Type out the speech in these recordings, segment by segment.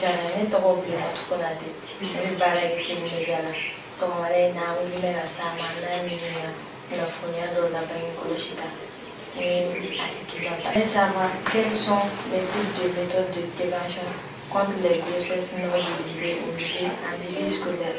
jana ne tɔgɔ Bilematu Konate ne bɛ baara kɛ seminɛdiya la sɔgɔmada in na an wulilen bɛ ka s'a ma k'a ɲininka kunnafoni dɔw la bange kɔlɔsi kan ni a tigi ka ba ne savoir quels sont les types de méthodes de prévention contre les grossesses non désirées au milieu en milieu scolaire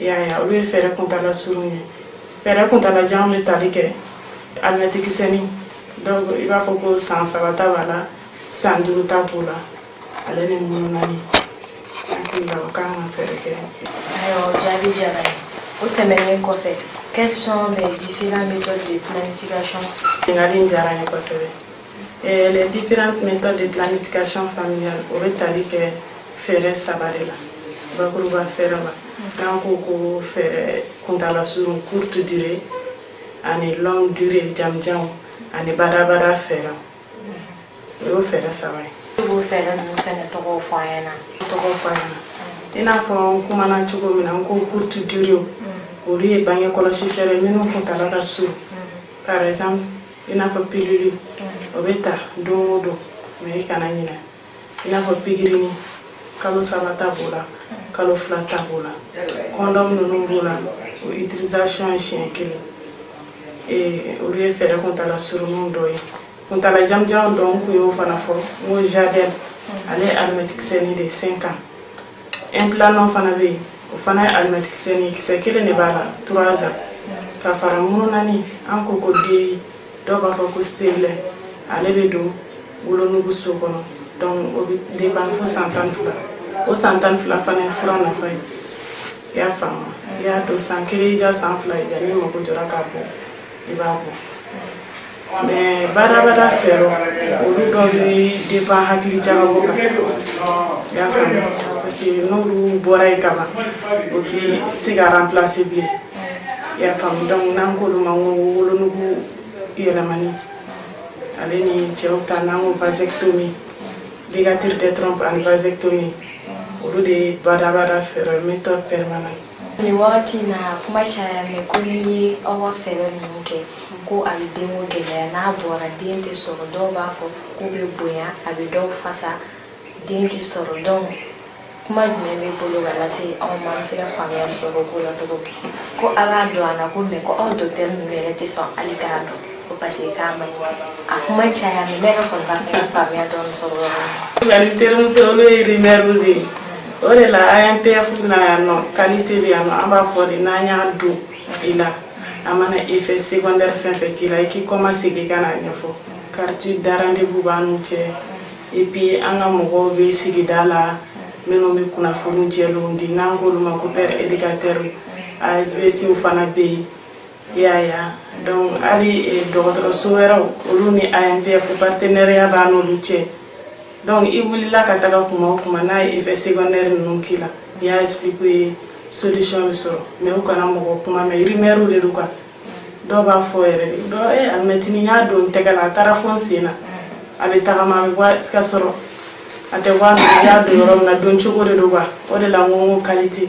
i y'a ye olu ye fɛɛrɛ kuntala surun ye fɛɛrɛ kuntala jan bɛ tali kɛ alimɛtikisɛni donc i b'a fɔ ko san saba ta b'a la san duuru ta b'o la ale ni mununani hakili la o kan ka fɛɛrɛ kɛ ayiwa o jaabi diyara n ye o tɛmɛnen kɔfɛ quelles sont les différentes méthodes de planification ɲininkali in diyara n ye kosɛbɛ Eh, les différentes méthodes de planification familiale o bɛ tali kɛ fɛɛrɛ saba de la bakuruba fɛɛrɛ la n'an k'o ko fɛɛrɛ kuntala surun courte durée ani longue durée janjanw ani badabada fɛɛrɛ o y'o fɛɛrɛ saba ye i b'o fɛɛrɛ ninnu fɛnɛ tɔgɔw fɔ an ɲɛna tɔgɔ fɔ an ɲɛna i n'a fɔ n kumana cogo min na n ko courte durée olu ye bange kɔlɔsi fɛɛrɛ minnu kuntala ka surun par exemple i n'a fɔ pilili o bɛ ta don o don mɛ i kana ɲinɛ i n'a fɔ pikirini kalo saba ta b'o la kalo fila ta b'o la kɔndɔm ninnu b'o la o utilisation ye siɲɛ kelen olu ye fɛɛrɛ kuntala surunninw dɔ ye kuntala janjan dɔ n kun y'o fana fɔ n ko Jadelle ale ye alimɛtikisɛni de sen kan Implanon fana bɛ yen o fana ye alimɛtikisɛni kisɛ kelen de b'a la trois ans ka fara mununani an k'o ko DIU dɔw b'a fɔ ko stérilet ale bɛ don wolonugu so kɔnɔ donc o bɛ dépend fo san tan fila o san tan fila fana ye fura nafa ye i y'a faamu i y'a don san kelen i ka san fila i ka n'i mago jɔra k'a bɔ i b'a bɔ Mɛ badabada fɛɛrɛ olu dɔ de b'an hakili ja parce que n'o bɔra yen kaban o tɛ se ka ranplase bilen ya donc n'an k'o ma ko wolonugu yɛlɛmani ale ni cɛw ta n'an ko vasectomie donc ligature des trompes ani vasectomie olu de ye badabada fɛɛrɛ méthode permanente ne wagati na kuma caya mɛn ko n'i ye aw ka fɛɛrɛ ninnu kɛ ko a bɛ denko gɛlɛya n'a bɔra den tɛ sɔrɔ dɔw b'a fɔ k'u bɛ bonya a bɛ dɔw fasa den tɛ sɔrɔ donc kuma jumɛn b'i bolo ka lase aw ma an bɛ se ka faamuyali sɔrɔ ko la cogo ko aw b'a don an na komi ko aw dɔgɔtɔrɔ ninnu yɛrɛ tɛ sɔn hali k'a don ko parce que k'a man a kuma caya mais ne yɛrɛ kɔni b'a fɛ ka faamuya dɔɔni sɔrɔ yɔrɔ min na. nka n terimuso olu ye rimɛriw de ye o de la AMPPF na yan nɔ kalite bɛ yan nɔ an b'a fɔ de n'an y'a don i la a mana effet secondaire fɛn fɛn k'i la i k'i kɔma segin ka n'a ɲɛfɔ carte de rendez-vous b'an n'u cɛ et puis an ka mɔgɔw bɛ sigida la minnu bɛ kunnafoni jɛlenw di n'an k'olu ma ko pair éducateur ASVC fana bɛ yen. I y'a ye wa, donc hali dɔgɔtɔrɔso wɛrɛw olu ni AMPPF partenariat b'a n'olu cɛ donc i wulila ka taga tuma o tuma n'a ye effet secondaire ninnu k'i la n'i y'a expliquer u ye solution bɛ sɔrɔ mais u kana mɔgɔ kuma mɛn rumeur de don quoi dɔw b'a fɔ yɛrɛ de dɔ ee alimɛtini n y'a don n tɛgɛ la a taara fo n sen na a bɛ tagama a bɛ bɔ ka sɔrɔ a tɛ bɔ a nɔ na i y'a don yɔrɔ min na don cogo de don quoi o de la n ko n ko qualité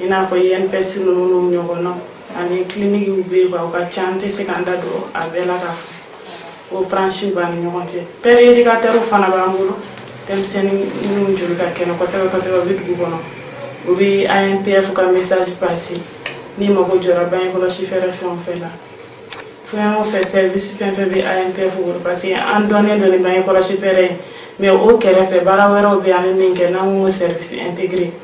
i n'a fɔ INPS ninnu n'u ɲɔgɔnnaw ani kilinikiw bɛ yen u ka ca an tɛ se k'an da don a bɛɛ la k'a fɔ référence b'an ni ɲɔgɔn cɛ pɛri edikatɛriw fana b'an bolo denmisɛnnin minnu joli ka kɛnɛ kosɛbɛ kosɛbɛ u bɛ dugu kɔnɔ u bɛ AMPPF ka message passé n'i mago jɔra bange kɔlɔsi fɛɛrɛ fɛn o fɛn la fɛn o fɛn service fɛn fɛn bɛ AMPPF bolo parce que an dɔnnen don ni bange kɔlɔsi fɛɛrɛ ye mais o kɛrɛfɛ baara wɛrɛw bɛ yen an bɛ min kɛ n'an ko service intégré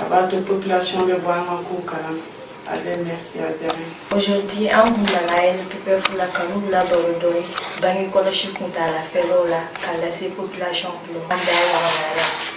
A b'a to population bɛ bɔ an ka kow kalama. Allez merci a diyara n ye. Aujourd'hui an kun nana AMPPF la ka n'u la baro dɔɔni bange kɔlɔsi kuntaala fɛɛrɛw la k'a lase population tulo ma. An da wagala la.